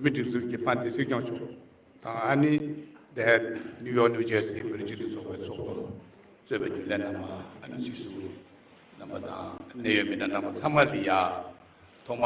བོད་མིའི་སྒྲིག་འཛུགས་ཀྱི་པཱ་ཏི་སྲིད་སྐྱོང་མཆོག་དང་ཨ་ནི་ཟླས་ནིའུ་ཡོག་ནིའུ་ཇེར་སི་བོད་རིགས་སྤྱི་མཐུན་ཚོགས་པའི་ཚོགས་གཙོ་གཙོས་པའི་རྒྱུན་ལས་རྣམ་པ་ཨ་ནི་ཆི་སུའུ་རྣམ་པ་དང་གནད་ཡོད་མི་སྣ་རྣམ་པ་ཚང་མ་ལི་ཡཱ་ཐོག་མ་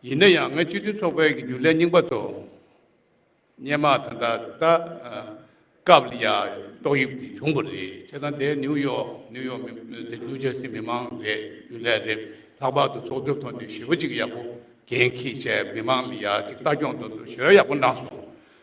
ཡིན་ན་ཡང་ངས་སྤྱི་མཐུན་ཚོགས་པའི་རྒྱུན་ལས་རྙིང་པ་ཚོ་སྙན་མ་དང་ད་ལྟ་སྐབས་ལ་ཡང་ཏོག་དབྱིབས་དེ་བྱུང་པ་རེད་བྱས་ཙང་དེ་ནིའུ་ཡོག་ནིའུ་ཡོག་མི་དེ་ནིའུ་ཇར་སི་མི་དམངས་རེད་རྒྱུན་ལས་རེད་ལྷག་པར་དུ་ཚོགས་འདུའི་ཐོག་ནས་ཞི་བ་གཅིག་ཡག་པོ་གན་གྱིས་བྱས་མི་དམངས་ལ་ཡག་གཅིག་ལྟ་སྐྱོང་དང་དུ་ཞོལ་ཡག་པོ་གནང་སོང་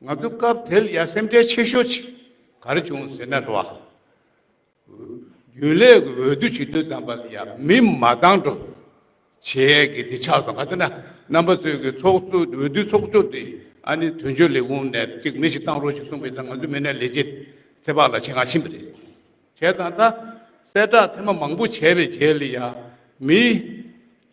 ང་ཚོ་སྐབས་དེར་ཡ་སེམས་ཁྲལ་ཆེ་ཤོས་ཆེ་ག་རེ་བྱུང་ཟེར་ན་རེ་བ། རྒྱུན་ལས་ཀྱི་འོས་བསྡུ་བྱེད་དུས་དམ་པ་ལ་ཡང་མི་མ་བཏང་འགྲོ་བྱས་ཀྱི་དེ་ཆགས་སོང་ག་ཚོད་ན་རྣམ་པ་ཚོས་ཀྱི་ཚོགས་གཙོ་འོས་བསྡུ་ཚོགས་གཙོ་དེ་ཨ་ནི་དོན་གཅོད་ལས་ཁུངས་ནས་གཅིག་མི་ཞིག་བཏང་རོགས་ཞིག་གསུངས་པས་ད་ང་ཚོའི་མི་སྣའི་ལས་བྱེད་ཚེ་དཔག་ལ་ཆེད་མཁར་ཕྱིན་པ་རེད། བྱས་ཙང་ད་གསལ་བསྒྲགས་ཐེངས་མང་པོ་བྱས་པའི་རྗེས་ལ་ཡང་མི་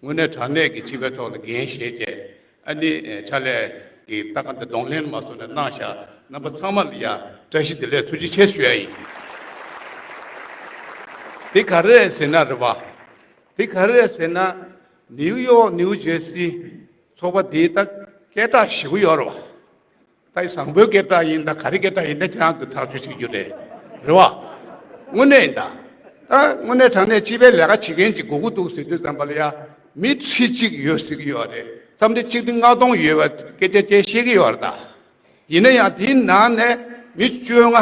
དངོས་གནས་དྲང་གནས་ཀྱི་བྱིས་པའི་ཐོག་ལ་འགན་བཞེས་རྗེས་ཨ་ནི་ཕྱག་ལས་ཀྱི་རྟ་ཁ་འདི་གདོང་ལེན་མ་བཟོ་ནས་གནང་བཞག་རྣམ་པ་ཚང་མ་ལ་ཡང་བཀྲ་ཤིས་བདེ་ལེགས་ཐུགས་རྗེ་ཆེ་ཞུ་ཡ་ཡིན། དེ་ག་རེད་ཟེར་ན་རེད་བ། དེ་ག་རེད་ཟེར་ན་ནིའུ་ཡོག་ནིའུ་ཇེར་སི་ཚོགས་པ་འདིའི་ད་སྐད་གྲགས་ཞིག་གོ་ཡོག་རེད་བ། ད་ཡི་བཟང་པོའི་སྐད་གྲགས་ཡིན་ད་ག་རེ་སྐད་གྲགས་ཡིན་ད་ཁྱེད་རང་ཚོ་ཐག་གཅོད་བྱེད་རྒྱུ་རེད་རེད་བ། དངོས་གནས་ཡིན་ད། ད་དངོས་གནས་དྲང་གནས་སྤྱི་པའི་ལས་ཀ་བྱེད་མཁན་གྱི་དགོས་མཁོ་འདུག་ཟེར་དུས་བསམ་པ་ལ་ཡ། མི་ཁྲི་གཅིག་ཡོད་ཟེར་གྱི་ཡོད་རེད་བསམ་ཁྲི་གཅིག་ཁྲི་ལྔ་སྟོང་ཡོད་པ་སྐད་ཆ་ཅེས་བཤད་ཀྱི་ཡོད་རེད་ད། ཡིན་ན་ཡང་དེའི་ནང་ནས་མི་བཅོ་ལྔ་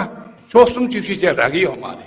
ཕྱོགས་གསུམ་བཅུ་བཞི་བཅས་རག་གི་ཡོད་མ་རེད།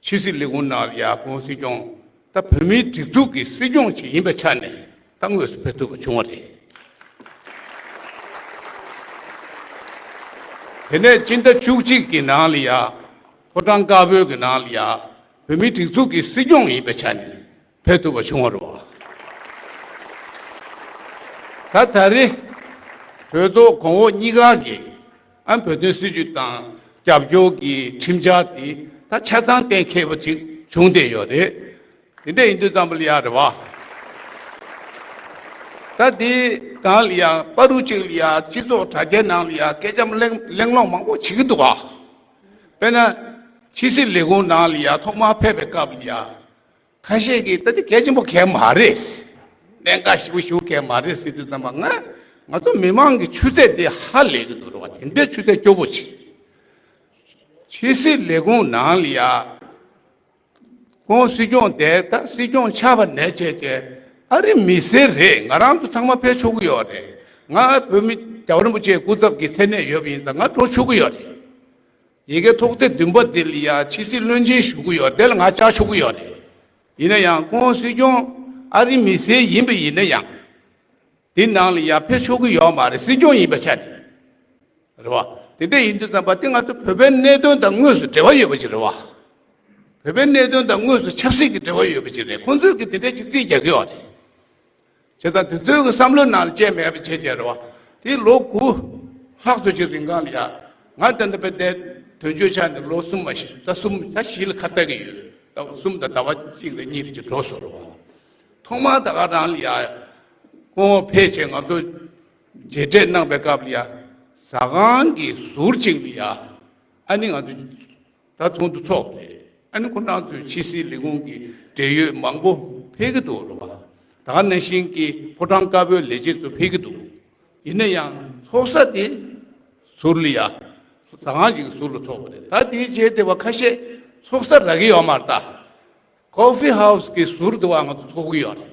ཕྱི་སྲིད་ལས་ཁུངས་ནང་ཡ་གུང་སྲིད་སྐྱོང་དང་བོད་མིའི་སྒྲིག་འཛུགས་ཀྱི་སྲིད་སྐྱོང་ཞིག་ཡིན་པའི་ཆ་ནས་ད་དངོས་སུ་ཕེབས་ཐུབ་པ་བྱུང་བ་རེད། དེ་ནས་སྤྱི་ཟླ་བཅུ་གཅིག་གི་ནང་ལ་ཡ་ཕོ་བྲང་དཀར་པོའི་ནང་ལ་ཡ་བོད་མིའི་སྒྲིག་འཛུགས་ཀྱི་སྲིད་སྐྱོང་ཡིན་པའི་ཆ་ནས། འཕེལ་ཐུབ་པ་བྱུང་བ་རེད། ད་ད་རེས་གྲོས་ཚོགས་གོང་འོག་གཉིས་ཀ་གིས་ཨ་བོད་དོན་སྲིད་བྱུས་དང་རྒྱབ་སྐྱོར་གྱི་ཁྲིམས་འཆར་དེ་ད་ཆ་ཚང་གཏན་འཁེལ་བ་ཅིག་བྱུང་བསྡད་ཡོད་རེད། དེ་འདྲ་ཡིན་དུས་ཙམ་ལ་ཡང་རེད་བ། ད་དེ་གང་ལ་ཡང་པ་རུ་གཅིག་ལ་ཡང་སྤྱི་ཚོགས་དྲ་རྒྱའི་ནང་ལ་ཡང་སྐད་ཆ་གླེང་སློང་མང་པོ་བྱེད་ཀྱི་འདུག་བ། དཔེར་ན་ཕྱི་སྲིད་ལས་ཁུངས་ནང་ལ་ཡང་ཐོག་མར་ཕེབས་པའི་སྐབས་ལ་ཡང་ཁ་ཤས་ཀྱིས་ད་དེ་གལ་ཆེན་པོ་གལ་མ་རེད། གནད་འགག་ཞིག་པོ་ཞུ་གལ་མ་རེད་ཟེར་དུས་ཙམ་པ་ང། ང་ཚོ་མི་མང་གི་ཆུ་ཚད་དེ་ཧ་ལས་ཀྱི་འདུག་རེད་བ་དེ་འདྲའི་ཆུ་ཚད་སྐྱོ་པོ་ཞིག། ཕྱི་སྲིད་ལས་ཁུངས་ནང་ལ་ཡ། ཁོང་སྲིད་སྐྱོང་དེ་ད་སྲིད་སྐྱོང་ཆགས་པ་ནས་བྱས་ཀྱི་ཨ་རི་མི་སེར་རེད་ང་རང་ཚོ་ཚང་མ་ཕེབས་ཆོག་གི་ཡོད་རེད། ང་བོད་མི་རྒྱ་བ་རིན་པོ་ཆེ་སྐུ་ཚབ་ཀྱི་མཚན་གནས་ཡོད་པ་ཡིན་ཙང་ང་འགྲོ་ཆོག་གི་ཡོད་རེད། ཡི་གེ་ཐོག་ཐེངས་བདུན་པ་འདི་ལ་ཡང་ཕྱི་སྲིད་བློན་ཆེན་ཞུ་གི་ཡོད་དེ་ལ་ང་བཅར་ཆོག་གི་ཡོད་རེད། ཡིན་ན་ཡང་ཁོང་སྲིད་སྐྱོང་ཨ་རིའི་མི་སེར་ཡིན་པ་ཡིན་ན་ཡང། དེ་ནང་ལ་ཡང་ཕེབས་ཆོག་གི་ཡོད་མ་རེད་སྲིད་སྐྱོང་ཡིན་པ་ཆ་ནས་རེད་བ། དེ་འད་ཡིན་དུས་ཙམ་པ་དེ་ང་ཚོ་བོད་པའི་གནད་དོན་དང་དངོས་སུ་འབྲེལ་བ་ཡོད་པ་ཅིག་རེད་བ། བོད་པའི་གནད་དོན་དང་དངོས་སུ་ཆབ་སྲིད་ཀྱི་འབྲེལ་བ་ཡོད་པ་ཅིག་རེད་ཁོང་ཚོས་ཀྱི་དེ་འད་ཅིག་རྩིས་རྒྱག་གི་ཡོད་རེད། བྱས་ཙང་དེ་ཚོའི་བསམ་བློའི་ནང་ལ་བཅས་མེད་པའི་ཆེད་ཆེ་རེད་བ། དེ་ལོ་དགུ་ལྷག་ཙོ་ཅིག་རིང་གང་ལ་ཡག། ང་དེ་འདྲ་བས་དེ་དོན་གཅོད་ཆགས་ནས་ལོ་གསུམ་མ་ཞིག་ད་གསུམ་ད་བཞི་ལ་ཁ་བལྟ་གི་ཡོད། ད་གསུམ་ད་ཟླ་བ་གཅིག་རེ་གཉིས་རེ་ཅིག་འགྲོ་སོང་རེད་བ། ཐོག་མར་ད་ག་རང་ལ་ཡག། སྐུ་ངོ་ཕལ་ཆེར་ང་ཚོ་མཇལ་འཕྲད་གནང་པའི་སྐབས་ལ་ཡག། ཟ་ཁང་གི་ཟུར་ཅིག་ལ་ཡག། ཨ་ནི་ང་ཚོ་ད་དུང་འདུ་ཚོགས་ཀྱི་ཨ་ནེ་ཁོ་ན་ཚོའི་ཕྱི་སྲིད་ལས་ཁུངས་ཀྱི་འབྲེལ་ཡོད་མང་པོ་ཕེབས་ཀྱི་འདུག་ལོ་པ་དག་ནས་ཞིང་གི་ཕོ་བྲང་དཀར་པོའི་ལས་བྱེད་ཚོ་ཕེབས་ཀྱི་འདུག་ཡིན་ན་ཡང་ཚོགས་ས་དེ་ཟུར་ལི་ཡ་ཟ་ཁང་གཅིག་གི་ཟུར་ལ་ཚོགས་པ་རེད་ད་དེའི་རྗེས་དེ་བ་ཁ་ཤས་ཚོགས་ས་རག་གི་ཡོད་མ་རེད་ད། Coffee House། གི་ཟུར་དུ་བ་ང་ཚོ་ཚོགས་ཀྱི་ཡོད་རེད།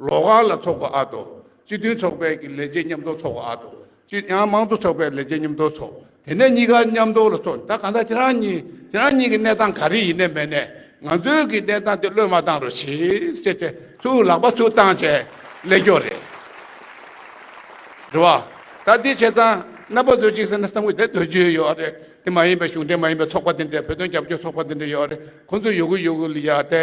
ལོག་ཁང་ལ་ཚོགས་པ་ཨ་དོ། སྤྱི་མཐུན་ཚོགས་པའི་གི་ལས་བྱེད་མཉམ་འདོགས་ཚོགས་པ་ཨ་དོ། སྤྱི་ཡང་དམངས་གཙོ་ཚོགས་པའི་ལས་བྱེད་མཉམ་འདོགས་ཚོགས། དེ་ནས་གཉིས་ཀ་མཉམ་འདོགས་ལ་ཚོགས། ད་ག་ད་ཁྱེད་རང་གཉིས་ཁྱེད་རང་གཉིས་ཀྱི་གནས་སྟངས་ག་རེ་ཡིན་ནས་མེད་ནས། ང་ཚོའི་གི་གནས་སྟངས་དེ་བློས་མ་བཏང་རོགས་ཞེས་བྱས་ཏེ་ཚུར་ལག་པ་ཚུར་བཏང་བྱས་ཀླད་སྐྱོ་རེད། རེད་བ། ད་འདི་བྱས་ཙང་རྣམ་པ་བཟོ་ཅིག་ཟེར་ན་བསམ་གི་དེ་དོན་གཅོད་ཡོད་རེད། དེ་མ་ཡིན་པའི་གཞུང་འབྲེལ་མ་ཡིན་པའི་ཚོགས་པ་དེ་འདྲས་བོད་དོན་རྒྱབ་སྐྱོར་ཚོགས་པ་དེ་འདྲས་ཡོད་རེད། ཁོང་ཚོ་ཡོད་གི་ཡོད་གི་ལ་ཡ་དེ།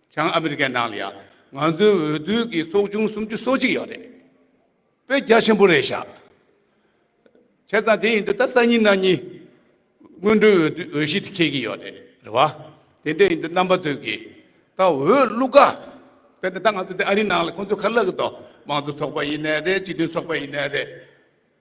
བྱང་ཨ་མི་རི་ཀའི་ནང་ལ་ཡང་ང་ཚོའི་འོས་བསྡུ་གི་ཚོགས་ཆུང་སུམ་ཅུ་སོ་གཅིག་ཡོད་རེད། བོད་རྒྱ་ཆེན་པོ་རེད་ཤག་བྱས་ཙང་དེ་ཡིན་དུས་ད་སང་ཉིན་གནངས་ཉིན་སྔོན་འགྲོའི་འོས་བསྡུ་འོས་གཞི་དེ་ཁེལ་གྱི་ཡོད་རེད་བ། དེ་འདྲ་ཡིན་དུས་རྣམ་པ་ཚོས་ཀྱིས་ད་འོས་བླུག་ག་དཔེར་ན་ད་ང་ཚོ་འདི་ཨ་རིའི་ནང་ལ་ཁོང་ཚོས་ཁ་བསླག་གི་འདུག་དམངས་གཙོ་ཚོགས་པ་ཡིན་ནའི་རེད་སྤྱི་མཐུན་ཚོགས་པ་ཡིན་ནའི་རེད།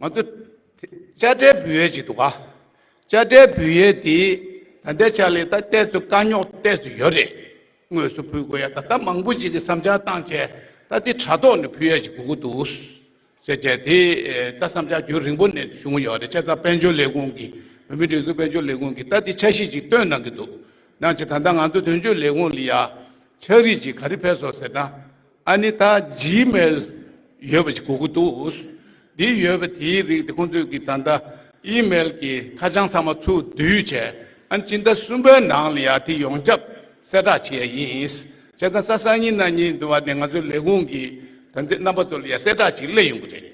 ང་ཚོ་དཔྱ་ཁྲལ་འབུལ་ཡས་ཅིག་འདུག་ག་དཔྱ་ཁྲལ་འབུལ་ཡས་དེ་ད་ལྟའི་ཆ་ལས་ད་གཏད་སོ་དཀའ་རྙོག་གཏད་སོ་ཡོད་རེད་དངོས་སུ་འབུལ་དགོས་ཡས་ད་ལྟ་མང་པོ་ཅིག་གི་བསམ་འཆར་བཏང་བྱས་ད་དེ་དྲ་ཐོག་ནས་འབུལ་ཡས་ཅིག་དགོས་ཀྱི་འདུག་ཟེར་བྱས་དེ་ད་བསམ་འཆར་རྒྱུན་རིང་པོ་ནས་བྱུང་ཡོད་རེད་ཆེ་ས་དཔལ་འབྱོར་ལས་ཁུངས་ཀྱི་བོད་མི་སྒྲིག་འཛུགས་དཔལ་འབྱོར་ལས་ཁུངས་ཀྱི་ད་དེ་འཆར་གཞི་ཅིག་བཏོན་གནང་གི་འདུག་གནང་བྱས་ད་ལྟ་ང་ཚོ་དོན་གཅོད་ལས་ཁུངས་ལ་ཡང་འཆར་རིས་ཅིག་ག་རེ་ཕེབས་སོ་ཟེར་ན། ཨ་ནི་ད Gmail ཡོད་པ་ཞིག་གོ་གི་འདུག་འདི་ཡོད་པ་དེའི་རིགས་དེ་ཁོང་ཚོས་ཀྱི་ད་ལྟ Email གྱི་ཁ་བྱང་ཚང་མ་ཚུར་བསྡུས་བྱས་ཨ་ནི་སྤྱི་ཟླ་གསུམ་པའི་ནང་ལ་ཡང་དེ་ཡོང་ཁྱབ་གསལ་བསྒྲགས་བྱས་ཡ་ཡིན། བྱས་ཙང་ས་སང་ཉིན་ན་ཉིན་དུ་བ་དེ་ང་ཚོའི་ལས་ཁུངས་ཀྱི་དོན་དེ་རྣམ་པ་ཚོ་ལ་ཡང་གསལ་བསྒྲགས་ཤིག་གླེང་ཡོང་གི་རེད།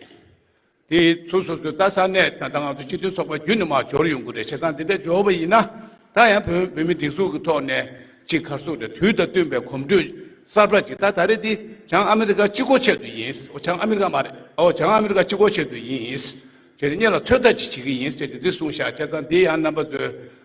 དེ་ཚོ་སོ་སོའི་ལྟ་ས་གནས་དང་ད་ང་ཚོ་སྤྱི་མཐུན་ཚོགས་པ་བརྒྱུད་ནས་མ་འབྱོར་ཡོང་གི་རེད་བྱས་ཙང་དེ་འདྲ་འབྱོར་བ་ཡིན་ན་ད་ཡང་བོད་མི་སྒྲིག་འཛུགས་ཀྱི་ཐོག་ནས་གཅིག་ཁར་སོ་རེད་དུས་དང་བསྟུན་པའི་གོམ་བགྲོད་གསར་པ་ཅིག་ད་ད་རེ་འདི་བྱང་ཨ་མི་རི་ཀ་སྤྱི་ཁོག་ཆེད་དུ་ཡིན་འོ་བྱང་ཨ་མི་རི་ཀ་མ་རེད་འོ་བྱང་ཨ་མི་རི་ཀ་སྤྱི་ཁོག་ཆེད་དུ་ཡིན། ཁྱེད་གཉིས་ལ་ཚོད་ལྟ་ཅིག་བྱེད་ཀྱི་ཡིན་ཟེར་ཏེ་འདི་གསུངས་བཞག་བྱས་ཙང་འདི་ཡང་རྣམ་པ་ཚོས